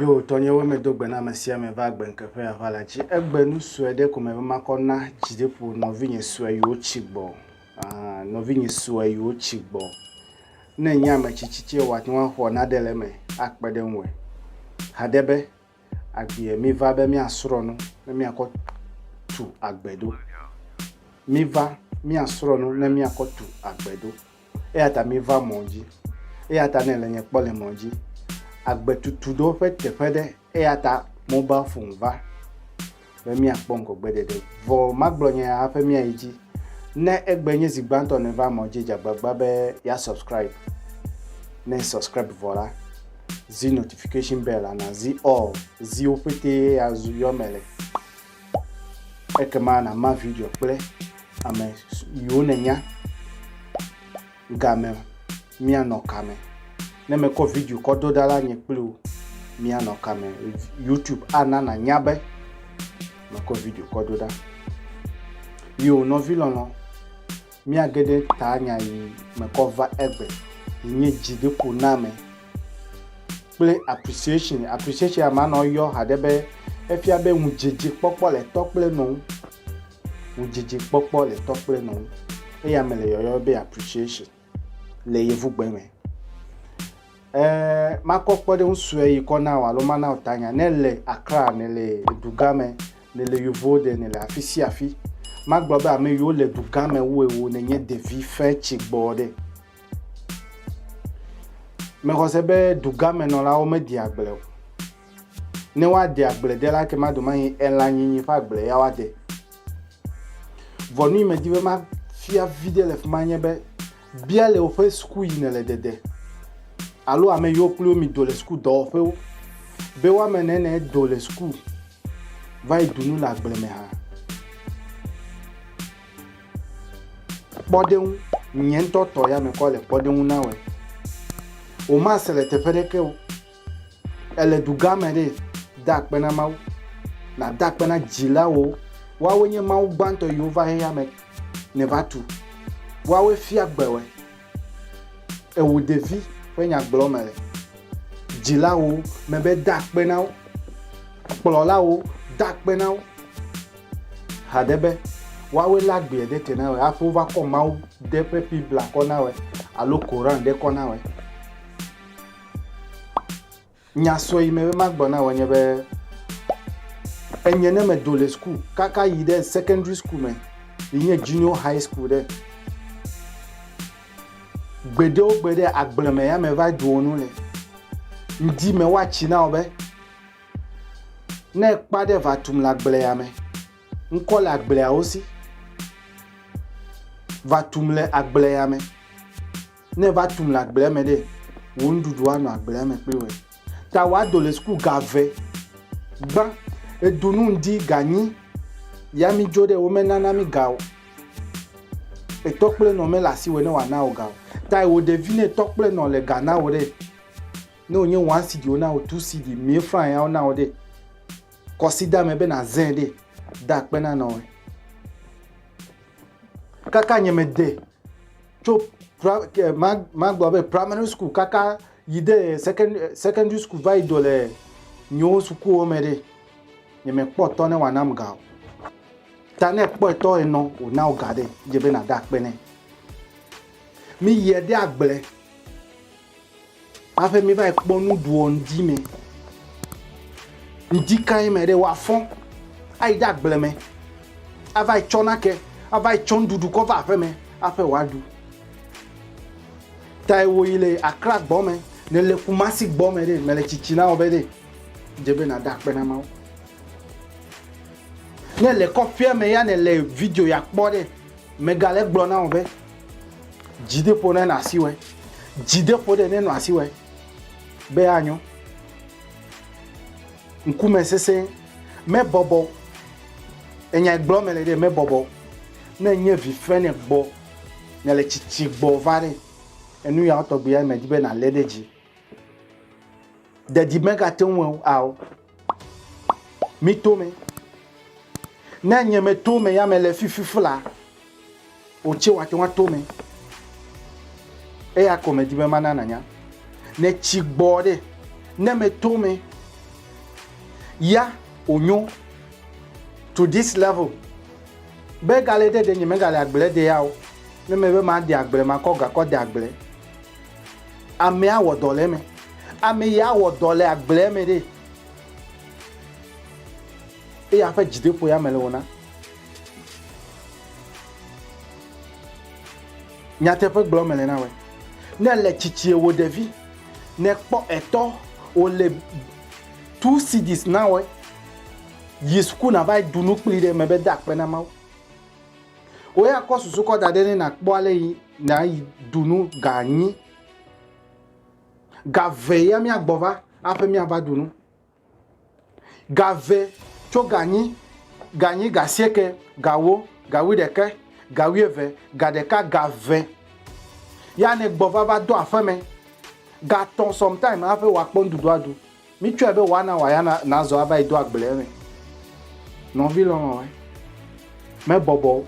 Ye wò tɔnyewo me do gbe na ame sia ame va agbe ŋke ƒe ava la dzi. Egbe nu sue ɖe ko me be makɔ na dzi ɖe ƒo nɔvinye sue yiwo tsi gbɔ. Ah, nɔvinye sue yiwo tsi gbɔ. Ne nye ame tsitsi tse wòate ŋu axɔ naɖe le eme akpe ɖe ŋue. Haɖe be agbea mi va be miasrɔ̃ nu ne miakɔ tu agbe ɖo. Mi va miasrɔ̃ nu ne miakɔ tu agbe ɖo. Eya ta miva mɔ dzi. Eya ta ne le nye kpɔ le mɔ dzi. Agbe tutu ɖo ƒe teƒe ɖe. Eya ta mobile phone va be miakpɔ ŋgɔgbeɖeɖe. Vɔ magblɔ nye ya haƒe miayi dzi. Ne egbe nye zi gbãtɔ nèva mɔ dzi, dze agbagba be ya subscribe. Ne subscribe vɔ la, zi notification bell la, nazi all. Zi wo ƒetee azu yɔ me le. Ekema nàma video kple ame siwo nènya. Game, Míanɔ kame? Ne mekɔ video kɔ do ɖa la, nye kple wò míanɔ kame? YouTube ana nànya be mekɔ video kɔ do ɖa. Yowò nɔvi lɔlɔ̃. Míage ɖe taa nya yi mekɔ va egbe yi nye dzideƒoname kple appreciation. Appreciation ya ma nɔ yɔ haɖe be efia be ŋudzedzekpɔkpɔ le tɔ kple nɔ ŋu. Ŋudzedzekpɔkpɔ le tɔ kple nɔ ŋu. Eya me le yɔyɔ be appreciation le yevugbe me. Ẽ, makɔ kpɔɖeŋu sue yi kɔ na wò alo mana wò tanya. Ne èle Accra, nèle dugã me, nèle Uvalde, nèle afi sia afi, magblɔ be ame yiwo le dugã me wu ewò nènye ɖevi fẽ tsi gbɔ ɖe. Mexɔ se be dugãmenɔlawo medea agble o. Ne woade agble de la, ekema domahi elãnyinyi ƒe agble ya woade. Vɔ nu yi medi be mafia viɖe le fi ma nye be Bia le woƒe suku yi nèle dede alo ame yiwo kpli wo mido le suku dɔwɔƒewo be woame ne ne do le suku va yi du nu le agble me hã. Kpɔɖeŋu, nye ŋutɔ tɔ ya mekɔ le kpɔɖeŋu na wɔe. Womase le teƒe ɖeke o. Èle dugã me ɖe, da akpe na Mawu. Nàda akpe na dzilawo. Woawoe nye Mawu gbãtɔ yiwo va xexea me ne va tu. Woawoe fia gbe wòe. Ewò ɖevi ƒe nya gblɔm mele. Dzilawo, mebe da akpe na wo. Kplɔlawo, da akpe na wo. Haɖe be, woawoe lé agbeɛ ɖe te na wòe hafi wova kɔ Mawu ɖe ƒe Biblia kɔ na wòe alo Koran ɖe kɔ na wòe. Nya sue yi me be magblɔ na wò nye be, enye ne medo le school kaka yi ɖe secondary school me yi nye junior high school ɖe. Gbeɖe wo gbeɖe agble me ya me va ɖuo nu le. Ŋdi me wa tsi na wo be, ne kpa ɖe va tum le agble ya me, ŋkɔ le agblea wo si. Va tum le agble ya me. Ne eva tum le agblea me ɖe, wò nuɖuɖu anɔ agblea me kpli wòe. Ta wòado le suku ga ve. Gbã, edu nu ŋdi ga nyi, ya mi dzo ɖe wo me nana mi ga o. Etɔ kple nɔ me le asi wòe ne wòa na wò ga o. Ta wò ɖevi ne etɔ kple nɔ le ga na wò ɖe, ne wònye one CD wona wò, two CD, mille franc ya wona wò ɖe, kɔsida me be na zẽ ɖe, da akpe na nɔ wòe. Kaka nye me de. tso magblɔ be primary school kaka yi de secondary school va yi do le nyewo sukuwo me ɖe nye me kpɔ tɔ ne wa nam ga o ta ne kpɔ tɔ enɔ o na o ga ɖe dze be na da kpe ne mi yɛ de agble Hafi mi va yi kpɔ nuɖuɔ ŋdi mɛ. Ŋdi kae mɛ ɖe wa fɔn ayi ɖe agble mɛ ava yi tsɔ nake ava yi tsɔ nuɖuɖu kɔ va aƒe mɛ aƒe wa ɖu. Tae wo yi le akra gbɔ mɛ ne le kumasi gbɔ mɛ ɖe mele tsitsi na wo be ɖe dze be na da kpe na mawo. Ne le kɔƒea mɛ ya ne le video ya kpɔ ɖe mega le gblɔ na wo be. Dzideƒo nenɔ asi wɔe. Dzideƒo ɖe nenɔ asi wɔe be anyo. Ŋkume sesẽ mebɔbɔ. Enya gblɔ mele ɖe mebɔbɔ. Ne nye vi fe ne gbɔ, ne le tsitsi gbɔ va ɖe. Enu yawo tɔgbi ya me di be na le ɖe dzi. Ɖeɖi mega te ŋu ao. Mi to me. Ne nye me to me ya me le fifi fla, o tse wa te wa to me. Eya ko me di be mana nanya. Ne tsi gbɔ ɖe, ne me to me ya o nyo to this level. Be gale ɖe ɖe nye me gale agble de ya o. Ne me be ma de agble ma kɔ gakɔ de agble. Amee awɔ dɔ le eme. Ame ye awɔ dɔ le agblea me ɖe. Eye aƒe dzideƒo ya me le wona. Nyateƒe gblɔ me le na wɛ. Ne le tsitsie wo ɖevi, ne kpɔ etɔ wo le two cds na wɛ. Yi suku na va yi dunu kpli ɖe me be de akpe na Mawu. Wò ya kɔ susu kɔ da ɖɛ ne nàkpɔ ale yi nàyi ɖu nu ga anyi. Ga ve ya míagbɔ va aƒe míava ɖu nu. Ga ve tso ga anyi, ga anyi, ga asieke, ga wo, ga wuiɖeke, ga wuieve, ga ɖeka, ga ve ya nègbɔ va va do aƒeme. Ga tɔ̃ sometimes aƒe wòakpɔ nuɖuɖu aɖu. Mitsɔe be wòana wòaya nazɔ ava yi do agble eme. Nɔvi lɔlɔ̃e mebɔbɔ o.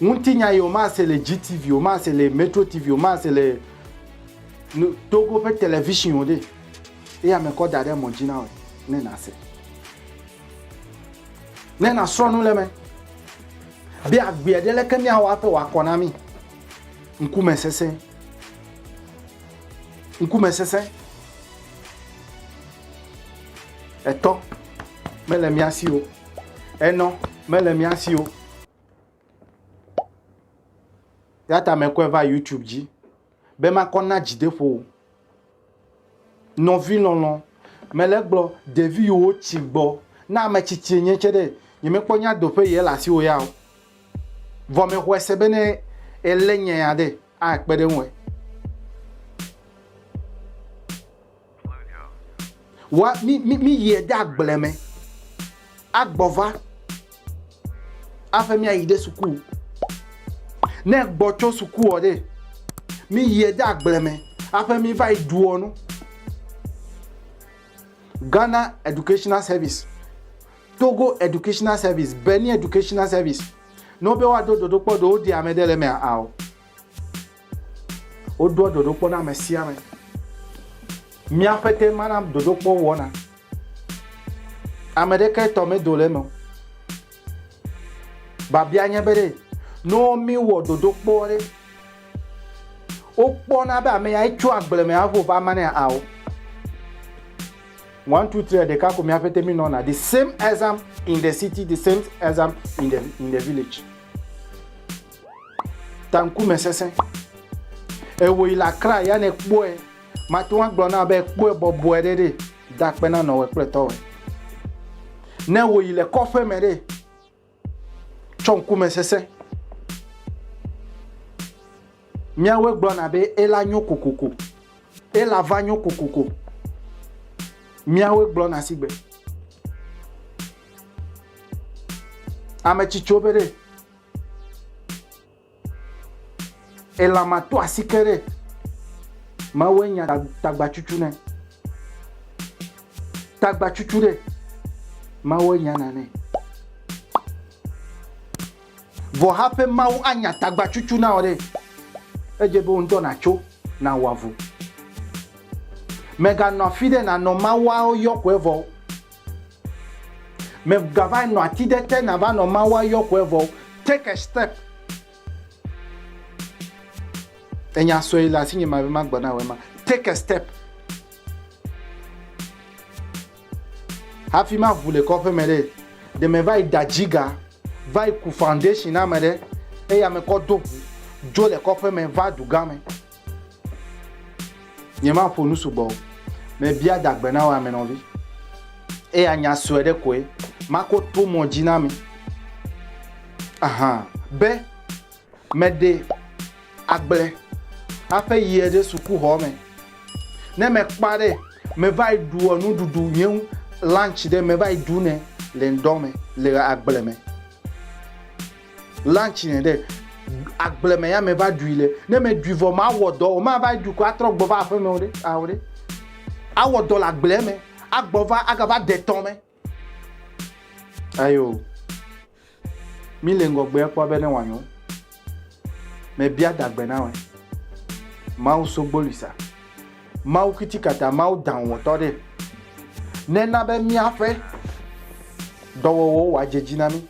Ŋutinya ye womase le GTV, womase le Metro TV, womase le Togo ƒe television o ɖe. Eya me kɔ da ɖe mɔ dzi na wò ne nàse. Ne nàsrɔ̃ nu le eme be agbeɛ ɖe leke míawɔ aƒe wòakɔ na mí. Ŋkumesesẽ. ŋkume sesẽ etɔ mele mía si o enɔ mele mía si o ya ta mekɔe va youtube dzi be makɔ na dzideƒo o nɔvi lɔlɔ mele gblɔ ɖevi yiwo tsi gbɔ na ame tsitsi enye tse ɖe nyemekpɔ nya doƒe yɛ le asiwò ya o vɔ mexɔe se be ne ele nya ya ɖe akpe ɖe eŋue. Wa mi mi mi yie de agble me. Agbɔva. Aƒe mi ayi de suku. Ne gbɔ tso suku ɔ ɖe. Mi yie de agble me. Aƒe mi va yi duɔ nu. Ghana Educational Service, Togo Educational Service, Benin Educational Service. Ne wobe woado dodokpɔ ɖe woɖi ame ɖe le emea ao. Wodoa dodokpɔ na ame sia ame. Míaƒe te mana dodokpɔ wɔna. Ame ɖeke tɔ medo le eme o. Babia nye be ɖe ne míwɔ dodokpɔ ɖe wokpɔna be ame ya etso agble me avo va manea ao. one two three ɖeka ko mi hafi te mi nɔna the same exam in the city the same exam in the in the village tankume sese ewo yi le akra ya ne kpɔe mate ŋu agblɔ na be kpɔe bɔbɔe ɖe ɖe da kpe na nɔwɔe kple tɔwɔe ne wo yi le kɔƒe me ɖe Tsɔ ŋkume sesẽ. Míawoe gblɔna be ela nyo kokoko. Ela va nyo kokoko. Míawoe gblɔna si gbe. Ame tsitsiwo be ɖe Elama to asike ɖe Mawue nya tagbacucu ne. Tagbacucu ɖe Mawue nya na ne. Vɔ haƒe Mawu anya tagbacucu na wò ɖe, edze be wò ŋutɔ nàtso nàwɔ avu. Mèganɔ afi ɖe nànɔ Mawua yɔ koe vɔ o. Megava nɔ ati ɖe te nava nɔ Mawu ayɔ kɔe vɔ. Take a step. Enya sɔe le asinye ma be magblɔ na wɔ ema. Take a step. Hafi ma ʋu le kɔƒe me ɖe. Ɖe me va yi da dziga, va yi ku foundation na me ɖe. Eya me kɔ do ʋu, dzo le kɔƒe me va du game. Nyemaƒo nu sugbɔ o. Mebia dagbe na wò amenɔvi. Eya nya sue ɖe koe. Mako to mɔ dzi na mi. Ahan. Be meɖe agble haƒe yie ɖe sukuxɔ me. Ne mekpɔa ɖe, meva yi ɖua nuɖuɖu nye ŋu lunch ɖe meva yi ɖu nɛ le ŋdɔ me le agble me. Lunch ne ɖe agble me ya me va ɖui le. Ne me ɖui vɔ ma wɔ dɔ o ma va ɖui ko atrɔ gbɔ va aƒe me o ɖe ao ɖe. Awɔ dɔ le agble me agbɔ va aga va de tɔ me. Ayo. Mi le ŋgɔgbe kpɔ be ne wanyo. Me bia dagbe na we. Mawu so gbolisa. Mawu kitikata mawu dan wɔ tɔ ɖe. Ne na be miaƒe dɔwɔwɔ wa djedzi na mi.